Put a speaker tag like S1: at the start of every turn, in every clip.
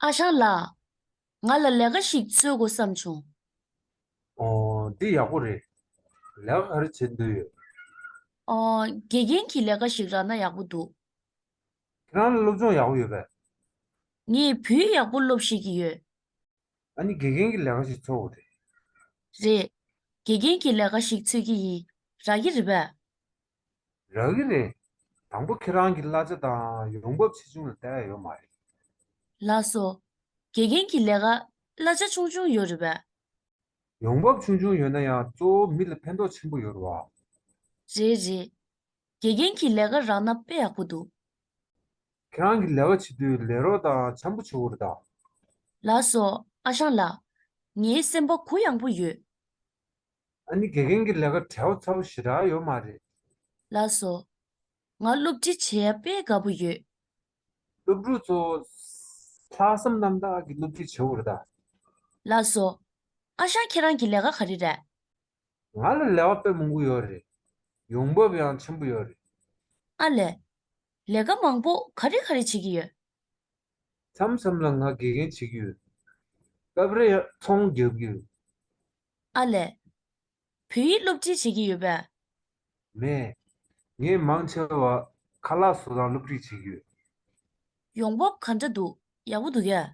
S1: ཨ་ཞང་ལགས། ང་ལ་ལས་ཀ་ཞིག་འཚོལ་དགོས་བསམ་བྱུང། ཨོ།
S2: འདི་ཡག་པོ་རེད། ལས་ཀ་ག་རེ་བྱེད་འདོད་ཡོད། ཨོ། དགེ་
S1: རྒན་གྱི་ལས་ཀ་ཞིག་རག་ན་ཡག་པོ་འདུག། ཁྱེད་
S2: རང་ལ་སློབ་སྦྱོང་ཡག་པོ་ཡོད་པས། ངས་
S1: བོད་ཡག་པོ་སློབ་ཤེས་ཀྱི་ཡོད། ཨ་ནི་དགེ་
S2: རྒན་གྱི་ལས་ཀ་ཞིག་འཚོལ་དགོས་རེད། རེད།
S1: དགེ་རྒན་གྱི་ལས་ཀ་ཞིག་འཚོལ་གྱི་ཡིན། རག་གི་རེད་པས། རག་
S2: གི་རེད། དང་པོ་ཁྱེད་རང་གི་གླ་ཆ་དང་ཡོང་འབབ་ཆེ་ཆུང་ལ་བལྟ་ཡ་ཡོད་མ་རེད། ལགས་སོ།
S1: དགེ་རྒན་གྱི་ལས་ཀ་གླ་ཆ་ཆུང་ཆུང་ཡོད་རེད་བས། ཡོང་འབབ་
S2: ཆུང་ཆུང་ཡོད་ན་ཡང་གཙོ་བོ་མི་ལ་ཕན་ཐོག་ཆེན་པོ་ཡོད་རེད་བ། རེད་རེད།
S1: དགེ་རྒན་གྱི་ལས་ཀ་རག་ན་དཔེ་ཡག་པོ་འདུག། ཁྱེད་
S2: རང་གི་ལས་ཀ་བྱེད་དུས་ལས་རོགས་དང་འཆམ་པོ་བྱེད་འོ་རེད་ད། ལགས་སོ་
S1: ཨ་ཞང་ལགས། ངའི་སེམས་པ་གུ་ཡངས་པོ་ཡོད། ཨ་
S2: ནི་དགེ་རྒན་གྱི་ལས་ཀར་བྲེལ་བ་ཚ་པོ་ཞེ་དྲག་ཡོད་མ་རེད། ལ་སོ།
S1: ང་སློབ་ཁྲིད་བྱས་ཡ་དཔེ་དགའ་པོ་ཡོད། སློབ་ཕྲུག་
S2: ཚོ། ལྷག་བསམ་རྣམ་དག་གིས་སློབ་ཁྲིད་བྱེད་འོས་ད། ལ་སོ།
S1: ཨ་ཞང་ཁྱེད་རང་གི་ལས་ཀ་ག་རེ་རེད། ང་ལ་
S2: ལས་བ་དཔེ་མང་པོ་ཡོད་རེད། ཡོང་འབབ་ཡང་ཆེན་པོ་ཡོད་རེད། ཨ་ལས།
S1: ལས་ཀ་མང་པོ་ག་རེ་ག་རེ་བྱེད་ཀྱི་ཡོད། མཚམས་མཚམས་ལ་ང་དགེ་
S2: རྒན་བྱེད་ཀྱི་ཡོད། སྐབས་རེ་ཡང་ཚོང་རྒྱག་གི་ཡོད། ཨ་
S1: ལས། བོད་ཡིག་སློབ་ཁྲིད་བྱེད་ཀྱི་ཡོད་པས།
S2: མས། ངས་མང་ཆེ་བ་ཁ་ལག་བཟོ་སྟངས་སློབ་ཁྲིད་བྱེད་ཀྱི་ཡོད། ཡོང་
S1: འབབ་ག་འདྲ་འདུག་ཡག་པོ་འདུག་གས།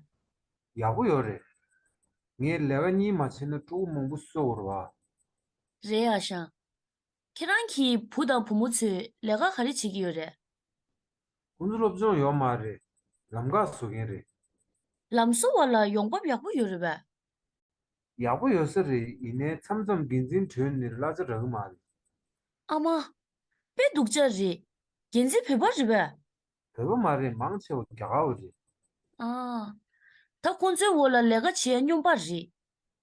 S1: ཡག་པོ་ཡོད་རེད།
S2: ངས་ལས་ཀ་གཉིས་མ་བྱས་ན་ཕྲུ་གུ་མང་པོ་གསོད་འོར་བ། རེད་
S1: ཨ་ཞང། ཁྱེད་རང་གི་བུ་དང་བུ་མོ་ཚོས་ལས་ཀ་ག་རེ་བྱེད་ཀྱི་ཡོད་རེད། ཁོང་ཚོ་
S2: སློབ་སྦྱོང་ཡོག་མ་རེད། ལམ་འགག་བཟོ་མཁན་རེད། ལམ་བཟོ་
S1: བ་ལ་ཡོང་འབབ་ཡག་པོ་ཡོད་རེད་བས། ཡག་
S2: པོ་ཡོད་ས་རེད་ཡིན་ནའི་མཚམས་མཚམས་འགན་འཛིན་དྲོད་ནིར་གླ་ཆ་འདྲ་གི་མ་རེད། ཨ་མ།
S1: དཔེ་སྡུག་ཅག་རེད། འགན་འཛིན་བོད་པ་རེད་བས། བོད་པ་མ་རེད་
S2: མང་ཆེ་བ་རྒྱ་གར་བ་རེད།
S1: ཨ། ད་ཁོང་ཚོའི་འོག་ལ་ལས་ཀ་བྱེད་ཡ་སྙོམས་པ་རེད།